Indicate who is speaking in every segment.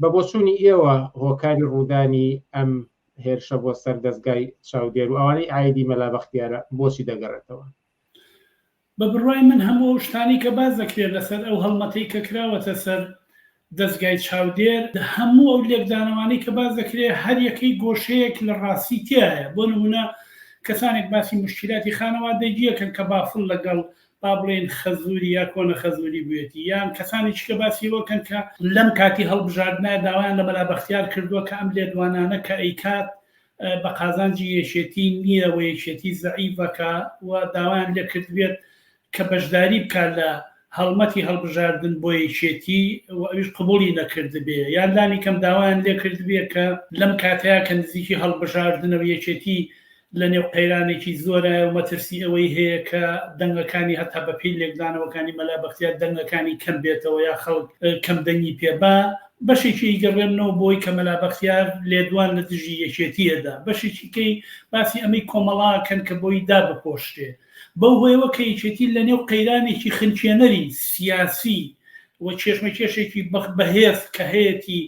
Speaker 1: بە بۆچوونی ئێوە هۆکاری ڕوودانی ئەم هێرشە بۆ سەر دەستگای چاودێر و ئەوانەی ئایدی مەلا بەختیارە بۆچی دەگەڕێتەوە؟
Speaker 2: بە بڕوای من هەموو ئەو شتانەی کە باس دەکرێت لەسەر ئەو هەڵمەتەی کە کراوەتە سەر دەستگای چاودێر، هەموو ئەو لێکدانەوانەی کە باس دەکرێت هەر یەکەی گۆشەیەک لە ڕاستی تیایە، بۆ نموونە کەسانێک باسی موشکیلاتی خانەوادەگی دەکەن کە بافڵ لەگەڵ با بڵێین خەزووری یا کۆنە خەزووری بوویەتی یان کەسانی چکە باسی ئەوە کەن کە لەم کاتی هەڵبژاردنە داوایان لە مەلا بەختیار کردووە کە ئەم لێدوانانە کە ئەیکات بە قازانجی یەکێتی نییە و یەکێتی زەعیفە کە و داوایان لێ کردبێت کە بەشداری بکات لە هەڵمەتی هەڵبژاردن بۆ یەکێتی و ئەویش قبوڵی نەکردبێ یان لانی کەم داوایان لێ کردبێت کە لەم کاتەیە کە نزیکی هەڵبژاردنە و یەکێتی لە نێو قەیرانێکی زۆرایە و مەترسی ئەوەی هەیە کە دەنگەکانی هەتا بە پێی لێکدانەوەکانی مەلا بەختیار دەنگەکانی کەم بێتەوە یا خەڵک کەم دەنگی پێ با بەشێکی ئیگەڕێننەوە بۆی کە مەلا بەختیار لێدوان لە دژی یەکێتی ئەدا بەشێکی کەی باسی ئەمەی کۆمەڵا کەن کە بۆی دا بپۆشرێ بەو هۆیەوە کە یەکێتی لە نێو قەیرانێکی خنکێنەری سیاسی و کێشمەکێشێکی بەهێز کە هەیەتی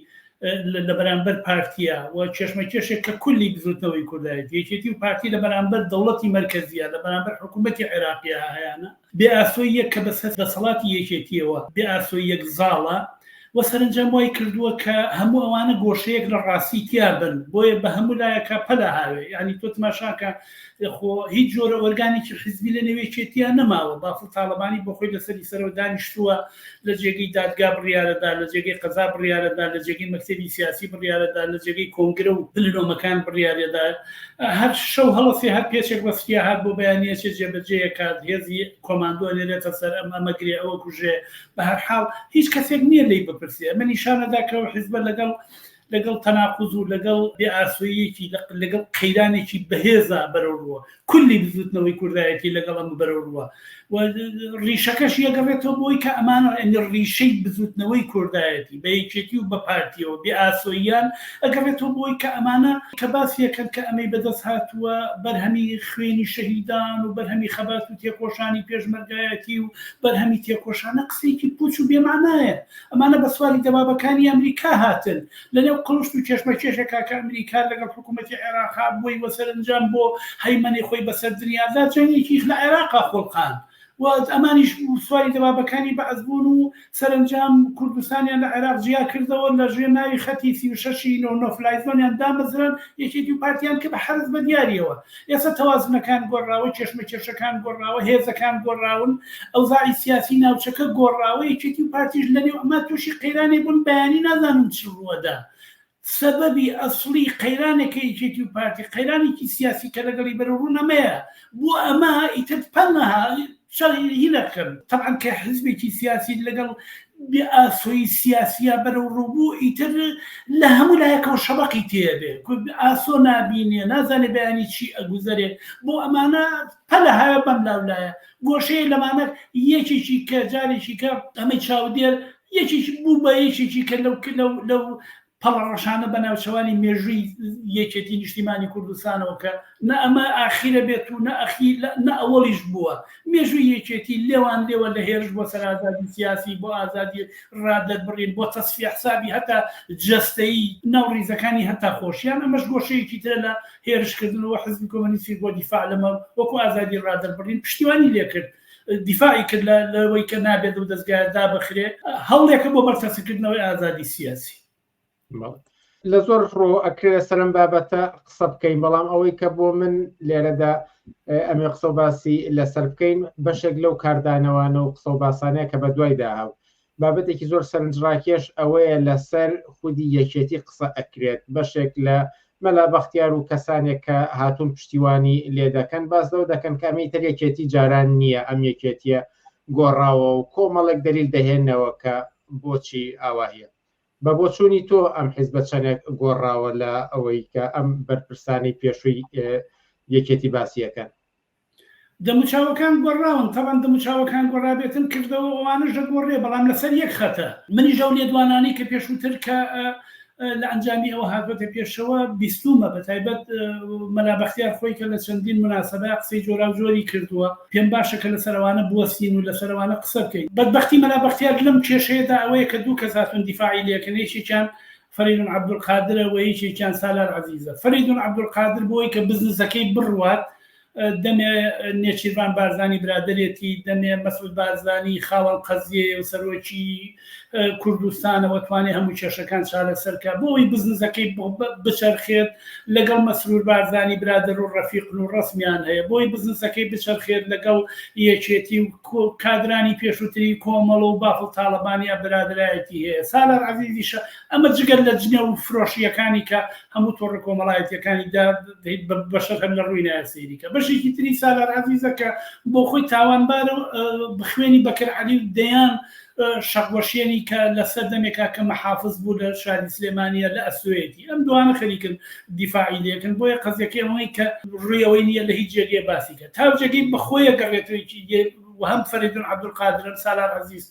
Speaker 2: لە بەرامبەر پارتییە و کێشمەکێشێک کە کولی بزوتنەوەی کوردایەتی یەکێتی و پارتی لە بەرامبەر دەوڵەتی مەرکەزیە لە بەرامبەر حکوومەتی عێراقیە هەیانە بێ ئاسۆییەک کە بە سەر دەسەڵاتی یەکێتیەوە بێ ئاسۆییەک زاڵە و سەرنجام وای کردووە کە هەموو ئەوانە گۆشەیەک لە ڕاستی تیابن بۆیە بە هەموو لایەکە پەلە هاوێ یعنی تۆ تماشاکە خۆ هیچ جۆرە ئۆرگانێکی حزبی لە نەوێچێتیان نەماوە بافڵ تاڵەبانی بۆ خۆی لەسەری سەرەوە دانیشتووە لە جێگەی دادگا بڕیارەدا لە جێگەی قەزا بڕیارەدا لە جێگەی مەکتتەبی سیاسی بڕیارەدا لە جێگەی کۆنگرە و پلنۆمەکان بڕیارەدا هەر شەو هەڵەسی هەر پێچێک بەسکیا هات بۆ بەیانەچێ جێبەجێکات هێزی کۆماندۆ نێرێتە سەر ئەم ئەمەگرێ ئەوە کوژێ بە هەر حاڵ هیچ کەسێک نییە لی بپرسێ ئەمە نیشانەدا کە حزبە لەگەڵ لەگەڵ تەناقوز و لەگەڵ بێ ئاسۆییەکی لەگەڵ قەیرانێکی بەهێزا بەرەو ڕووە کولی بزوتنەوەی کوردایەتی لەگەڵ ئەم بەرەو ڕووە ڕیشەکەش یەگەڕێتەوە بۆی کە ئەمانە ئەنی ڕیشەی بزوتنەوەی کوردایەتی بە یەکێتی و بە پارتیەوە بێ ئاسۆیان ئەگەڕێتەوە بۆی کە ئەمانە کە باسیەکەن کە ئەمەی بەدەست هاتووە بەرهەمی خوێنی شەهیدان و بەرهەمی خەبات و تێکۆشانی پێشمەرگایەتی و بەرهەمی تێکۆشانە قسەیەکی پوچ و بێمانایە ئەمانە بە سواری دەبابەکانی ئەمریکا هاتن لەنێو قڵشت و کێشمەکێشێکا کە ئەمریکا لەگەڵ حکوومەتی عێراقا بووی وە سەرەنجام بۆ هەیمەنەی خۆی بەسەر دنیادا جەنگێکیش لە عێراقا خۆڵقاند و ئەمانیش سواری دەبابەکانی بەعس بوون و سەرەنجام کوردستانیان لە عێراق جیا کردەوە لە ژێر ناوی خەتی سی و شەش ی نۆ نۆفلایزۆنیان دامەزراند یەکێتی و پارتیان کرد بە حەرەس بە دیارییەوە ئێستا تەوازنەکان گۆڕاوە، کێشمەکێشەکان گۆڕاوە، هێزەکان گۆڕاون، ئەوزاعی سیاسی ناوچەکە گۆڕاوە، یەکێتی و پارتیش لەنێو ئەمە تووشی قەیرانێک بوون بەیانی نازانم چ ڕووەدا. سەبەبی ئەسڵی قەیرانەکەی یەکێتی و پارتی، قەیرانێکی سیاسی کە لەگەڵی بەرەوڕوون ئەمەیە. بۆ ئەمە ئیتر پەنا شەڕی ئیدی نەکەن تەبعەن کە حزبێکی سیاسی لەگەڵ بێ ئاسۆی سیاسیە بەرەو ڕووبوو ئیتر لە هەموو لایەکەوە شەبەقی تێبێ ئاسۆ نابینێ نازانێ بەیانی چی ئەگوزەرێ بۆ ئەمانە پەلە هاە بەم لاولایە گۆشەیە لەمانە یەکێکی کە جارێکی کە ئەمەی چاودێر یەکێکی بوو بە یەکێکی کە لەو لەو پەڵەڕەشانە بە ناوچەوانی مێژووی یەکێتی نیشتیمانی کوردستانەوە کە نە ئەمە ئاخیرە بێت و نە ئەخی نە ئەوەڵیش بووە مێژووی یەکێتی لێوان لێوە لە هێرش بۆ سەر ئازادی سیاسی بۆ ئازادی ڕادەربڕین بۆ تەسفیە حسابی هەتا جەستەیی ناو ڕیزەکانی هەتا خۆشیان ئەمەش گۆشەیەکی ترە لە هێرشکردنەوە حزبی کۆمەنیستی بۆ دیفاع لەمە وەکو ئازادی ڕادەربڕین پشتیوانی لێکرد دیفاعی کرد لە لەوەی کە نابێت لەو دەزگایە دابخرێ هەوڵێکە بۆ بەرتەسکردنەوەی ئازادی سیاسی.
Speaker 1: لە زۆر ڕۆ ئەکرێت سەرم بابەتە قسە بکەین بەڵام ئەوەی کە بۆ من لێرەدا ئەمێ قسە باسی لەسەر بکەین بەشێک لەو کاردانەوانە و قسە و باسانەیە کە بە دوایدا هاو بابەتێکی زۆر سەرنجڕاکێش ئەوەیە لەسەر خودی یەکێتی قسە ئەکرێت، بەشێک لە مەلا بەختیار و کەسانێک کە هاتوون پشتیوانی لێ دەکەن باس لەوە دەکەن کە ئەمەی تر یەکێتی جاران نییە ئەم یەکێتییە گۆڕاوە و کۆمەڵێک دەلیل دەهێنەوە کە بۆچی ئاوایە. بە بۆچوونی تۆ ئەم حیزبە چەندێک گۆڕاوە لە ئەوەی کە ئەم بەرپرسانەی پێشووی یەکێتی باسی ئەکەن؟
Speaker 2: دەموچاوەکان گۆڕاون تەبەن دەموچاوەکان گۆڕابێتن کردەوە ئەوانەش دەگۆڕێ بەڵام لەسەر یەک خەتە منیش ئەو لێدوانانەی کە پێشووتر کە لە ئەنجامی ئەوە هاتبەتە پێشەوە بیستومە بە تایبەت مەلا بەختیار خۆی کە لە چەندین مناسبە قسەی جۆرا و جۆری کردووە پێم باشە کە لە سەروانە بوەستین و لە سەروانە قسە بکەین بەدبختی مەلا بەختیار لەم کێشەیەدا ئەوەیە کە دوو کەس هاتون دیفاعی لەکەن یەکێکیان فەریدون عەبدولقادرە و یەکێکیان سالار عەزیزە. فەریدون عەبدولقادر بۆی کە بزنسەکەی بڕوات، دەمێ نێچیرڤان بارزانی برادەرێتی، دەمێ مەسعود بارزانی خاوەن قەزیەیە و سەرۆکی کوردستانە و توانێ هەموو کێشەکان چارەسەر کا. بۆ ئەوەی بزنسەکەی بچەرخێت، لەگەڵ مەسرور بارزانی برادەر و ڕەفیقن و ڕەسمیان هەیە. بۆی بزنسەکەی بچەرخێت، لەگەڵ یەکێتی و کادرانی پێشووتری کۆمەڵە و بافڵ تاڵەبانیا برادەرایەتی هەیە، سالار عەزیزیشە، ئەمە جگە لە جنێو فرۆشییەکانی کە هەموو تۆڕە کۆمەڵایەتییەکانی دا بەشەر هەر لە ڕووی نایە سەیری کە. بەشێکی تری سالار عەزیزە کە بۆخۆی تاوانبارە و بخوێنی بەکر عەلی و دەیان شەق وەشێنی کە لە سەردەمێکا کە محافز بوو لە شاری سلێمانیە لە ئەستۆیەتی ئەم دوانە خەریکن دیفاعی لێکن بۆیە قەزیەکەی ئەوەی کە ڕوی ئەوەی نیە لە هیچ جێگەیە باسی کە تاوجێگەی بەخۆیە گەڕێتەوەیکی دێ وهم فەریدون عبدالقادرم سالار عزیز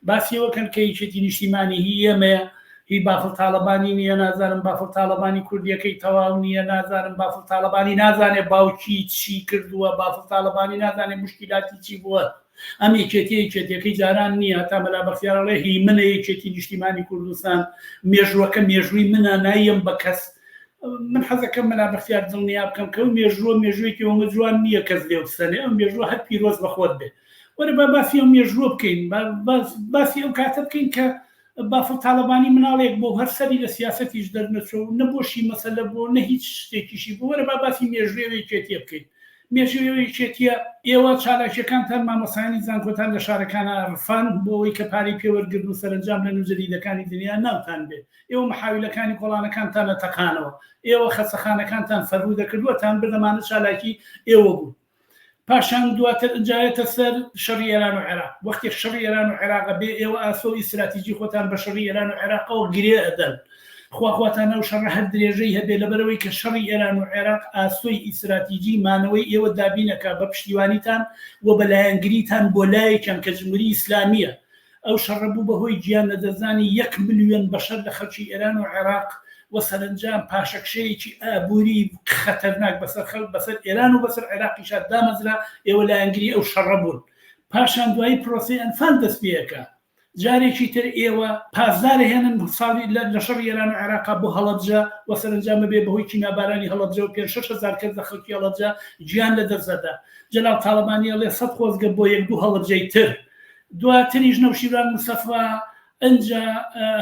Speaker 2: باسیەوە کەن کە یەکێتی نیشتیمانی هی ئێمەیە هی بافڵ تاڵەبانی نییە نازانم بافڵ تاڵەبانی کوردیەکەی تەواو نییە نازانم بافڵ تاڵەبانی نازانێ باوکی چی کردووە بافڵ تاڵەبانی نازانێ مشکیلاتی چی بووە ئەم یەکێتیە یەکێتیەکەی جاران نیە تا مەلا بەختیار ئەڵێ هی منە یەکێتی نیشتیمانی کوردستان مێژوەکە مێژوی منە نایەم بە کەس من حەزەکەم مەلا بەختیار دڵنیا بکەم کە ئەو مێژوە مێژوێکی ئەومە جوان نیە کەس لێ بسەنێ ئەم مێژوە هەر پیرۆز بە خۆت بێ وەرە با باسی ئەم مێژوە بکەین باسی ئەو کاتە بکەین کە بافڵ تاڵەبانی مناڵێک بۆ هەر سەری لە سیاسەتیش دەرنەچوە و نە بۆشی مەسەلە بوە و نە هیچ شتێکیشی بوە، وەرە با باسی مێژوێ وێکێتیە بکەین. مێژوێ وێکێتیە، ئێوە چالاکیەکانتان مامۆستایانی زانکۆتان لە شارەکانا رفاند بۆ ئەوەی کە پارەی پێ وەرگرن و سەرەنجام لە نوو جەدیدەکانی دنیا ناوتان بێ. ئێوە محاویلەکانی کۆڵانەکانتانە تەقانەوە. ئێوە خەستەخانەکانتان فەرهودە کرد وەتان برد ئەمانە چالاکی ئێوە بون. پاشان دواتر ئنجا یەتە سەر شەڕی ئێران و عێراق وەختێک شەڕی ئێران و عێراق ئەبێ ئێوە ئاسۆ ی ستراتیجی خۆتان بە شەڕی ئێران و عێراقەوە گرێ ئەدەن خوا خواتان ئەو شەڕە هەر درێژەی هەبێ لەبەرەوەی کە شەڕی ئێران و عێراق ئاسۆی ی ستراتیجی مانەوەی ئێوە دابین ئەکا بە پشتیوانیتان و بە لایەنگریتان بۆ لایەکیان کە جموری ئیسلامیە ئەو شەڕە بوو بە هۆی گیان لەدەستدانی یەک ملیۆن بەشەر لە خەڵکی ئێران و عێراق و سەرەنجام پاشەکشەیەکی ئابووری خەتەرناک بەسەر خەڵک، بەسەر ئێران و بەسەر عێراقیشا دامەزرا، ئێوە لایەنگری ئەو شەڕە بوون. پاشان دوایی پرۆسەی ئەنفال دەست پێکا. جارێکی تر ئێوە پاسدار ئەهێنن ساڵی لە لە شەڕی ئێران و عێراقا بۆ هەڵەبجە و سەرەنجام ئەبێ بە هۆی کیمیابارانی هەڵەبجە و پێنج شەش هەزار کەس لە خەڵکی هەڵەبجە گیان لەدەست ئەدا. جەلال تاڵەبانی ئەڵێ سەد خۆزگە بۆ یەک دوو هەڵەبجەی تر. دواتریش نەوشیروان مستەفا ئنجا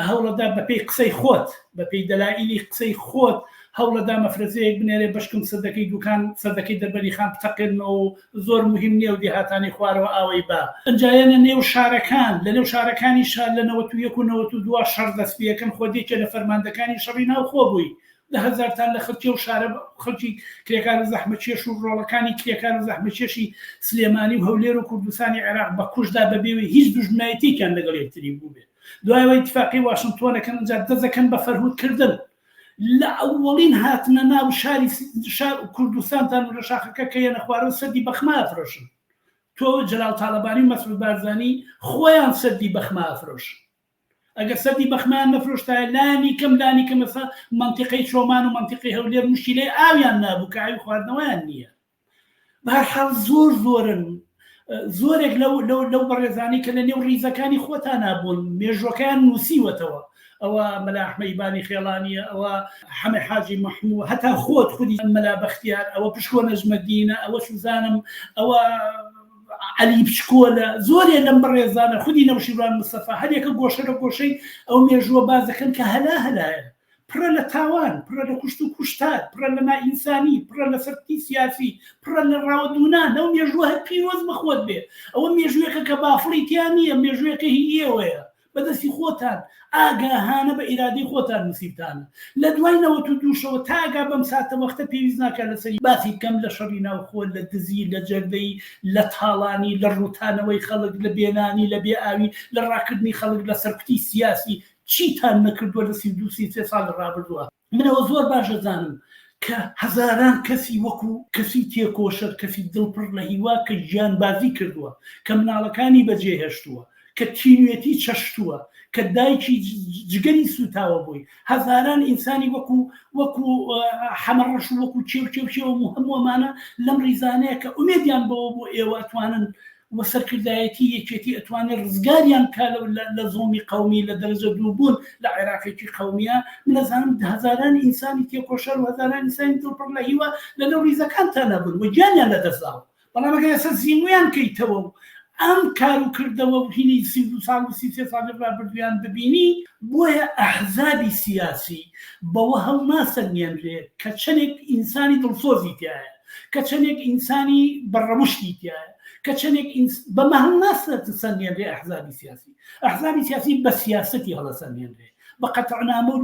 Speaker 2: هەوڵەدا بەپێی قسەی خۆت، بەپێی دەلائیلی قسەی خۆت هەوڵەدا مەفرەزەیەک بنێرێ بەشکم سەدەکەی دوکان سەدەکەی دەربەندی خان بتەقێنمەوە و زۆر موهیم نیە و دێهاتانی خوارەوە ئاوەی با ئنجا یەنە نێو شارەکان لەنێو شارەکانیشا لە نەوەت و یەک و نەوەت و دوا شەڕ دەست پیەکەن خۆت یەکێ لە فەرماندەکانی شەڕی ناوخۆ بووی دە هەزارتان لە خەڵکی ئەو شارە بە خەڵکی کرێکار و زەحمەتکێش و ڕۆڵەکانی کرێکار و زەحمەتکێشی سلێمانی و هەولێر و کوردستانی عێراق بە کوشت دا بە بێ وەی هیچ دوژمنایەتیەکیان لەگەڵ یەکتری بووبێت دوای ئەوە ئیتفاقی واشنتۆن ئەکەن ئینجا دەست دەکەن بە فەرهود کردن لە ئەوەڵین هاتنە ناو شاری شار و کوردستانتان و لە شاخەکە کە یەنە خوارەوە سەدی بەخما ئەفرۆشن تۆ جەلال تاڵەبانی و مەسعود بارزانی خۆیان سەدی بەخما ئەفرۆشن ئەگەر سەدی بەخمەیان نەفرۆشتایە لانی کەم لانی کەم ئێستا مەنتیقەی چۆمان و مەنتیقەی هەولێر موشکیلەی ئاویان نابوو کە ئاوی خواردنەوەیان نییە بە هەر حاڵ زۆر زۆرن زۆرێک لەو لەو لەو بەڕێزانی کە لە نێو ڕیزەکانی خۆتان نابوون مێژوەکەیان نووسیوەتەوە ئەوە مەلا ئەحمەیبانی خێڵانیە ئەوە حەمە حاجی محموو هەتا خۆت خودی مەلا بەختیار ئەوە پشکۆ نەجمەدینە ئەوە سوزانم ئەوە عەلی بچکۆلە، زۆرێ لەم بەڕێزانە، خودی نەوشیروان مستەفا، هەریەکە گۆشە لە گۆشەی ئەو مێژووە باس دەکەن کە هەلا هەلایە، پڕە لە تاوان، پڕە لە کوشت و کوشتار، پڕە لە نائینسانی، پڕە لە سەرکوتی سیاسی، پڕە لە ڕاوەدوونان، ئەو مێژووە هەر پیرۆز بە خۆت بێ، ئەوە مێژووێکە کە بافڵی تیا نییە، مێژووێکە هی ئێوەیە. بەدەستی خۆتان ئاگاهانە بە ئیرادەی خۆتان نوسیوتانە لەدوای نەوەت و دوو شەوە تا ئەگا بەم ساتە وەختە پێویست ناکا لەسەری باسی بکەم لە شەڕی ناوخۆ لە دزی لە جەردەی لە تاڵانی لە ڕوتانەوەی خەڵک لە بێ نانی لە بێ ئاوی لە ڕاکردنی خەڵک لە سەرکوتی سیاسی چیتان نەکردوە لە سی و دوو سی و سێ ساڵی ڕابردوە من ئەوە زۆر باش ئەزانم کە هەزاران کەسی وەکو کەسی تێکۆشەر کەسی دڵ پڕ لە هیوا کە گیانبازی کردووە کە مناڵەکانی بەجێ هێشتووە کە تینوێتی چەشتووە کە دایکی جگەری سوتاوە بووی هەزاران ئینسانی وەکو وەکو حەمەڕەش وەکو چێو چێو چێوە و هەمووەمانە لەم ریزانەیە کە ئومێدیان بەوە بۆ ئێوە توانن و سەرکردایەتی یەکێتی ئەتوانێ ڕزگاریان بکا لە زوڵمی قەومی لە دەرەجە دوو بوون لە عێراقێکی قەومیە من ئەزانم هەزاران ئینسانی تێکۆشەر و هەزاران ئینسانی دڵ پڕ لە هیوا لە نێو ڕیزەکانتانا بوون و گیانیان لە دەست داوە بەڵام ئەگەر ئێستا زیموویان کەیتەوە و ئەم کار و کردەوە و هینی سی و دوو ساڵ و سی و سێ ساڵی ڕابردوویان ببینی بۆیە ئەحزابی سیاسی بەوە هەڵناسەنگێنرێ کە چەنێک ئینسانی دڵسۆزی تیایە کە چەندێک ئینسانی بە ڕەوشتی تایە کە چەندێک بە مەهنەسەت سەنگێنرێ ئەحزابی سیاسی ئەحزابی سیاسی بە سیاستی هەڵە سەنگێنرێ بە قەتەنامە و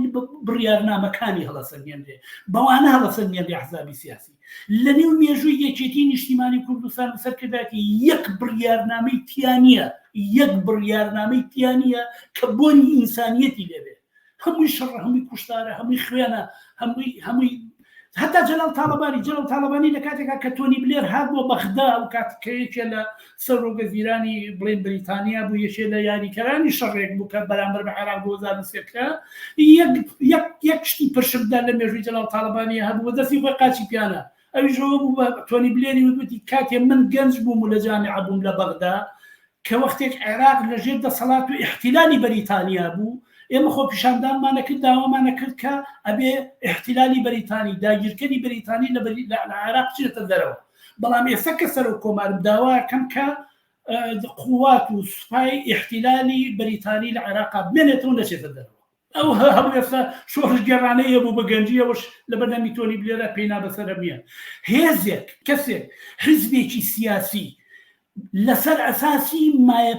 Speaker 2: بڕیارنامەکانی هەڵە سەنگێنرێ بەوانە هەڵە سەنگێنرێ ئەحزابی سیاسی لە نێو مێژووی یەکێتی نیشتیمانی کوردستان سەرکرداتی یەک بڕیارنامەی تیانە یەک بڕیارنامەی تیانە کە بۆنی ئینسانیەتی لەبێت هەمووی شەڕە هەمووی کوشتارە هەمووی خوێنە هەمووی هەمووی هەتا جەلال تاالبانی جەلال تاالبانی لە کاتێکا کە تۆنی بلێر هات بۆ بەغدا و کاتکەیەکێ لە سەرۆگە زیرانی بڵین بریتانیا بوو یەکێ لە یاریکەرانی شەڕێک بوو کە بەرامبەر بە عێراق بۆزانسێکە یەک شتی پرشمدا لە مێژوی جەلال تاالبانی هەبوو دەستی خۆی قاچی پیانە ئەویش ئەوە بوو بە تۆنی بلێری وتوتی کاتێ من گەنج بووم و لە جامعە بووم لە بەغدا کە وەختێک عێراق لەژێر دەسەڵات و احتیلالی بەریتانیا بوو ئێمە خۆ پیشاندانمان نەکرد داوامان نەکرد کە ئەبێ احتیلالی بەریتانی داگیرکەری بەریتانی لە عێراق چێتە دەرەوە بەڵام ئێستا کە سەر و کۆمارم داواکەم کە قوات و سوپای احتیلالی بەریتانی لە عێراق بێنێتەوە نەچێتە دەرەوە ئەو هەڵوێستە شۆڕشگێڕانەیە بوو، بە گەنجییەوەش لە بەردەمی تۆنی بلێرا پێی نا بەسەرە نییە هێزێک، کەسێک، حیزبێکی سیاسی لەسەر ئەساسی مایە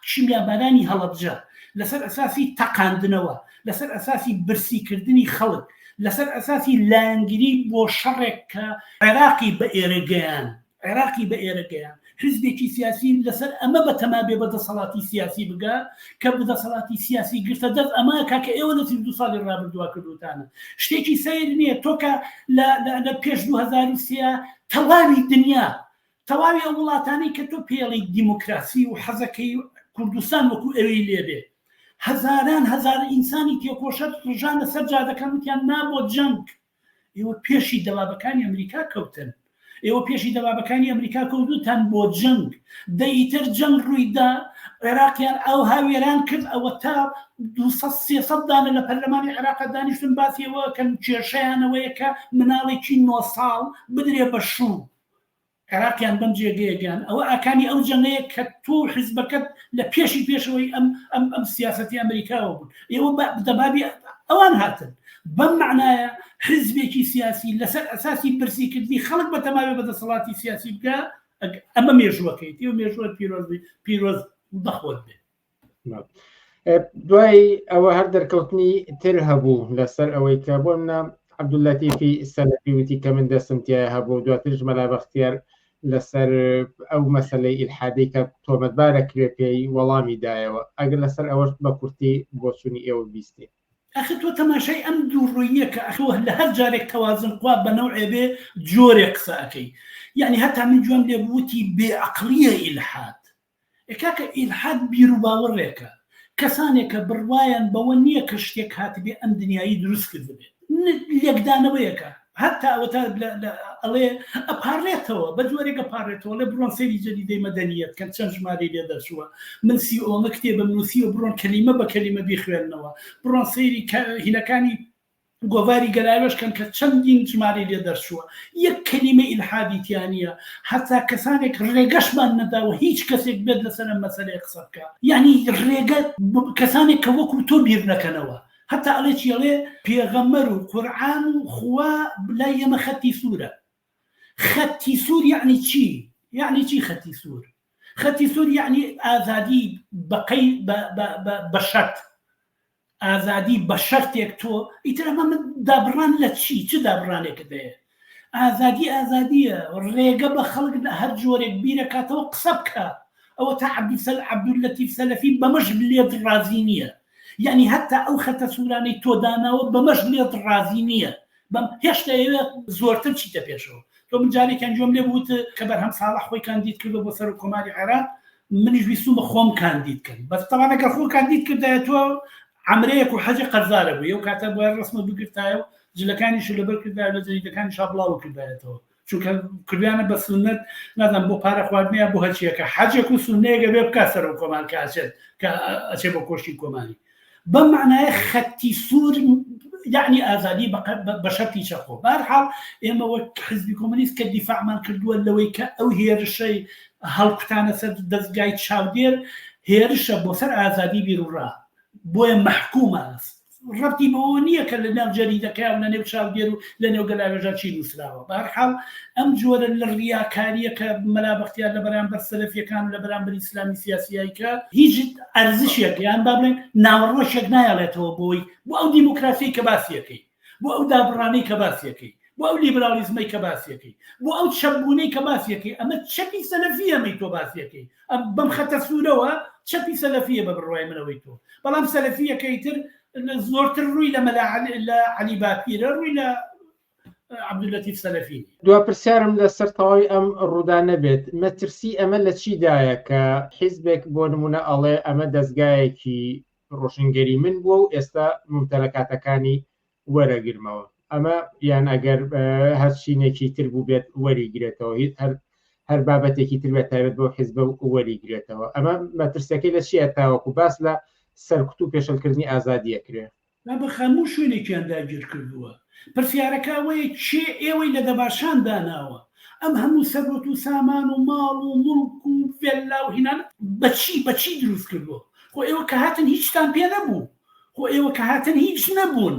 Speaker 2: کیمیابارانی هەڵەبجە، لەسەر ئەساسی تەقاندنەوە، لەسەر ئەساسی برسیکردنی خەڵک، لەسەر ئەساسی لایەنگری بۆ شەڕێک کە عێراقی بە ئێرە گەیاند، عێراقی بە ئێرە گەیان. حیزبێکی سیاسی لەسەر ئەمە بە تەما بێ بە دەسەڵاتی سیاسی بگا، کە بە دەسەڵاتی سیاسی گرتە دەست، ئەمە کە کە ئێوە لە سی و دوو ساڵی ڕابردووا کردووتانە. شتێکی سەیر نییە، تۆ کە لە لە لە پێش دوو هەزار و سێ تەواوی دنیا، تەواوی ئەو وڵاتانەی کە تۆ پێڵی دیموکراسی و حەزەکەی و کوردستان وەکوو ئەوێی لێ بێ، هەزاران هەزار ئینسانی تێکۆشەر ڕژانە سەر جادەکان وتیان نا بۆ جەنگ. ئێوە پێشی دەبابەکانی ئەمریکا کەوتن ئێوە پێشی دەبابەکانی ئەمریکا کەوتوتان بۆ جەنگ دە ئیتر جەنگ ڕوویدا عێراقیان ئەو هاوێران کرد ئەوە تا 200 دانە لە پەرلەمانی عێراق دانیشتن باسیەوە کەن کێشەیانەوەیە کە مناڵێکی نۆ ساڵ بدرێ بە شوو عێراقیان بەم جێگەیە گەیاند، ئەوە ئاکامی ئەو جەنگەیە کە تۆ و حیزبەکەت لە پێشی پێشەوەی ئەم ئەم ئەم سیاسەتی ئەمریکاوە بوون، ئێوە بە دەبابی ئەوان هاتن، بەم مەعنایە حیزبێکی سیاسی لەسەر ئەساسی برسیکردنی خەڵک بەتەماوی بە دەسەڵاتی سیاسی بگا ئەک ئەمە مێژووەکەیتی و مێژووت پیرۆز بی پیرۆز بە خۆت بێ.
Speaker 1: دوای ئەوە هەر دەرکەوتنی تر هەبوو لەسەر ئەوەی کە بۆ منە عبدولەتیفی سەلەفی وتی کە من دەستم تایە هەبوو دواترش مەلا بەختیار لەسەر ئەو مەسلەی ئیلحادەی کە تۆمەتبارە کرێ پێی وەڵامی دایەوە ئەگەر لەسەر ئەوەش بە کورتی بۆچوونی ئێوە بیستین ئەخر تۆ
Speaker 2: تەماشای ئەم دوو ڕوویە کە ئەخۆ لە هەر جارێک تەوازن قوا بە نەوعێ بێ جۆرێک قسە ئەەکەی یعنی هەتا من جوێم لێ بوتی بێعقلیە ئیلحاد ئێ کاکە ئیلحاد بیروباوەڕێکە، کەسانێکە بڕوایان بەوە نییە کە شتێک هاتبێ ئەم دنیایەی دروست کردبێت. لێکدانەوەیەکە هەتا ئەوەتا ئەڵێ ئەپاڕێتەوە، بە جۆرێک ئەپاڕێتەوە، ئەڵێ بڕۆن سەیری جەریدەی مەدەنییەت بکەن چەند ژمارەی لێ دەرچووە، من سی ئۆمە کتێبم نووسیوە بڕۆن کەلیمە بە کەلیمە بیخوێننەوە، بڕۆن سەیری هینەکانی گۆڤاری گەلاوێژ کەن کە چەندین ژمارەی لێ دەرچووە یەک کەلیمەی ئیلحادی تیا نییە هەتا کەسانێک ڕێگەشمان نەداوە هیچ کەسێک بێت لەسەر ئەم مەسەلەیە قسە بکا یانی ڕێگە کەسانێک کە وەکو تۆ بیر نەکەنەوە هەتا ئەڵێ چی ئەڵێ پێغەمبەر و قورعان و خوا لای ئێمە خەتی سوورە خەتی سوور یعنی چی یعنی چی خەتی سوور خەتی سوور یعنی ئازادی بەقەی بە شەرت ئازادی بە شەرتێک تۆ ئیتر ئەمە من دابڕان لە چی چ دابڕانێکت هەیە ئازادی ئازادیە ڕێگە بە خەڵک لە هەر جۆرێک بیرەکاتەوە قسە بکە ئەوە تا عبدسەل عبدول لەتیف سەلەفی بەمەش لێت ڕازی نییە یعنی هەتا ئەو خەتە سوورانەی تۆ داناوە بەمەش لێت ڕازی نییە بەم هێشتا ئێوێ زۆرتر چیتە پێشەوە تۆ من جارێکیان جۆم لێ بوت کە بەرهەم ساڵح خۆی کاندید کردو بۆ سەر و کۆماری عێراق منیش ویستومە خۆم کاندید کەم بەس تاوان ئەگەر خۆ کاندید کردایە تۆ عمرەیەک و حەجی قەرزارە بوو ئەو کاتە بۆیان ڕسمە بگرتایە و جلەکانیش لەبەر کردا لە جەریدەکانی شابڵاوە کردایەتەوە چونکە کردیانە بە سنت نازان بۆ پارە خواردنیان بۆ هەچیەکە حەجێک و سنەیەگە بێ بکە سەر و کۆمارکە ئەچێت کە ئەچێ بۆ کۆشتی کۆماری بەم مەعنایە خەتی سوور یعنی ئازادی بە شەرتی چەقۆ بارحاڵ ئێمە وەک حزبی کۆمەنیست کە دیفاعمان کردووە لەوەی کە ئەو هێرشەی هەڵکوتانە سەر دەستگای چاودێر هێرشە بۆ سەر ئازادی بیرڕا بۆیە مححکومە ڕەتی بەوە نییە کە لە ناو جەریدەکەیان لە نێو چاودێر و لە نێو گەلاوێژان چی نووسراوە بە هەر حاڵ ئەم جۆرە لە ڕیاکاریە کە مەلا بەختیار لە بەرامبەر سەلەفیەکان و لە بەرامبەر ئیسلامی سیاسیایی کە هیچ ئەرزشێک یان با بڵێن ناوەڕۆشێک نایەڵێتەوە بۆی بۆ ئەو دیموکراسی کە باسیەکەی بۆ ئەو دابڕانەی کە باسیەکەی بۆ ئەو لیبرالیزمەی کە باسیەکەی بۆ ئەو چەبوونەی کە باسیەکەی ئەمە چەپی سەلەفی ئەمەی تۆ باسیەکەی ئەم بەم خەتە سوورەوە چەپی سەلەفیە بە بڕوای منەوەی تۆ بەڵام سەلەفیەکەی تر زۆرتر ڕووی لە مەلا لە عەلی باپیرە ڕووی لە عبد اللطیف سەلەفی دوا پرسیارم
Speaker 1: لەسەر تەواوی ئەم ڕوودا نەبێت مەترسی ئەمە لە چیدایە کە حیزبێک بۆ نمونە ئەڵێ ئەمە دەستگایەکی ڕۆشنگەری من بووە و ئێستا ممتەلەکاتەکانی وەرەگرمەوە ئەمە یان ئەگەر هەر چینێکی تر بوو بێت وەریگرێتەوە هیچ هەر هەر بابەتێکی تر بێت تایبەت بۆ حیزب و وەریگرێتەوە ئەمە مەترسەکەی لە چیە تاوەکو باس لە سەرکوت و پێشلکردنی ئازادیە کرێ با بە خەموو
Speaker 2: شوێنێکیان داگیر کردووە پرسیارەکە ئەوەیە کێ ئێوەی لە دەباشان داناوە ئەم هەموو سەروەت و سامان و ماڵ و مڵک و ڤێللا و هینانە بەچی بەچی دروست کردووە خۆ ئێوە کە هاتن هیچتان پێ نەبوو خۆ ئێوە کە هاتن هیچ نەبوون.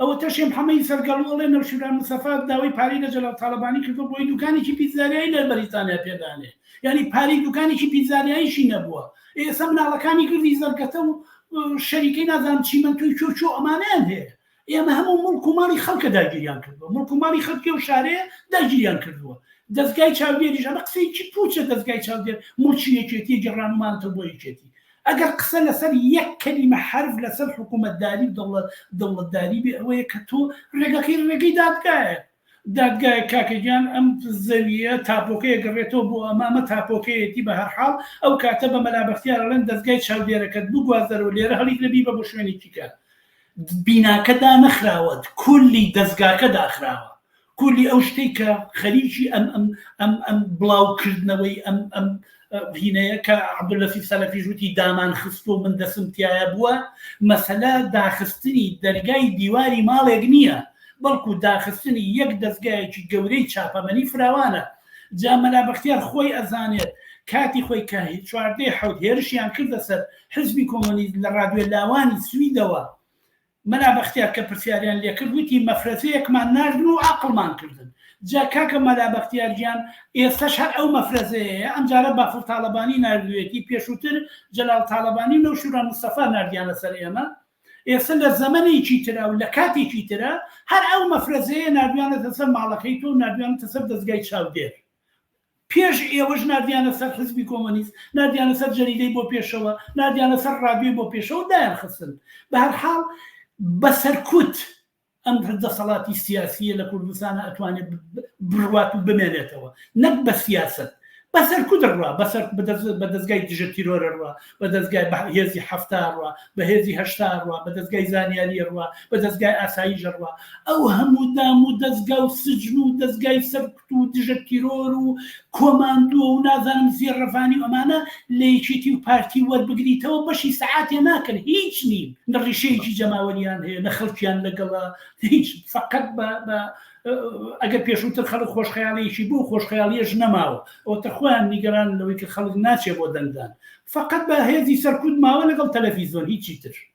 Speaker 2: ئەوەتەشێ محەمەی سەرگەڵو ئەڵێ نەوشیروان مستەفا داوای پارەی لە جەلال تاڵەبانی کردوە بۆی دوکانێکی پیتزاریایی لە بەریتانیا پێدانێ یانی پارەی دوکانێکی پیتزاریاییشی نەبووە ئێسە مناڵەکانی گردی زەرگەتە و شەریکەی نازانم چیمەنتۆی چۆ چۆ ئەمانەیان هەیە ئێمە هەموو مڵک و ماڵی خەڵکە داگیریان کردووە مڵک و ماڵی خەڵکی و شارەیە داگیریان کردووە دەزگای چاودێریش ئەمە قسەیەکی پوچە دەزگای چاودێر مڵکی یەکێتی گەڕانمانتە بۆ یەکێتی ئەگەر قسە لەسەر یەک کەلیمە حەرف لەسەر حکوومەتداری و دەوڵەتداری بێ ئەوەیە کە تۆ ڕێگەکەی ڕێگەی دادگایە. دادگایە کاکە گیان ئەم زەوییە تاپۆکەیە گەڕێتەوە بۆ ئەمە، ئەمە تاپۆکەیەتی بە هەر حاڵ ئەو کاتە بە مەلا بەختیار ئەڵێن دەزگای چاودێرەکەت بگواز دەرەوە لێرە هەڵیگرە بیبە بۆ شوێنێکی کە بیناکە دانەخراوە کولی دەزگاکە داخراوە کلی ئەو شتەی کە خەریکی ئەم ئەم ئەم ئەم بڵاو کردنەوەی ئەم ئەم هینەیە کە عبدلەسی سەلەفیش وتی دامان خست و من دەسم تایە بووە مەسەلە داخستنی دەرگای دیواری ماڵێک نییە بەڵکو داخستنی یەک دەستگایەکی گەورەی چاپەمەنی فراوانە جا مەلا بەختیار خۆی ئەزانێت کاتی خۆی کە چواردەی حەوت هێرشیان کردە سەر حزبی کۆمۆنیست لە ڕادوێ لاوانی سویدەوە مەلا بەختیار کە پرسیاریان لێ کرد وتی مەفرەزەیەکمان ناردن و عەقڵمان کردن. جا کاکە مەلا بەختیار گیان ئێستەش هەر ئەو مەفرەزەیەیە، ئەمجارە بافڵ تاڵەبانی ناردوویەتی، پێشووتر جەلال تاڵەبانی و نەوشیروان مستەفا ناردیانە سەر ئێمە. ئێستە لە زەمەنێکی ترە و لە کاتێکی ترە، هەر ئەو مەفرەزەیە ناردویانەتە سەر ماڵەکەی تۆ و ناردویانەتە سەر دەزگای چاودێر. پێش ئێوەش ناردیانە سەر حزبی کۆمۆنیست، ناردیانە سەر جەریدەی بۆ پێشەوە، ناردیانە سەر ڕادیۆی بۆ پێشەوە و دایانخستن. بە هەر حاڵ بە سەرکوت ئەم دەسەڵاتی سیاسییە لە کوردستانا ئەتوانێ بڕوات و بمێنێتەوە. نەک بە سیاسەت. بە سەرکوت ڕوا، بە سەر بە دەزگای دژە تیرۆرە ڕوا، بە دەزگای بە هێزی حەفتا ڕوا، بە هێزی هەشتا ڕوا، بە دەزگای زانیارییە ڕوا، بە دەزگای ئاساییش ڕوا. ئەو هەموو دام و دەزگا و سجن و دەزگای سەر. و دژە تیرۆر و کۆماندووە و نازانم زیێڕەفانی و ئەمانە لە یەکێتی و پارتی وەربگریتەوە بەشی سەعاتێ ناکەن هیچ نین نە ڕیشەیەکی جەماوەریان هەیە نە خەڵکیان لەگەڵە هیچ فقط بە ئەگەر پێشووتر خەڵک خۆشخەیاڵیەکی بوو خۆشخەیاڵیش نەماوە ئەو تە خۆیان نیگەران لەوەی کە خەڵک ناچێ بۆ دەنگدان فقط بە هێزی سەرکوت ماوە لەگەڵ تەلەفیزۆن هیچی تر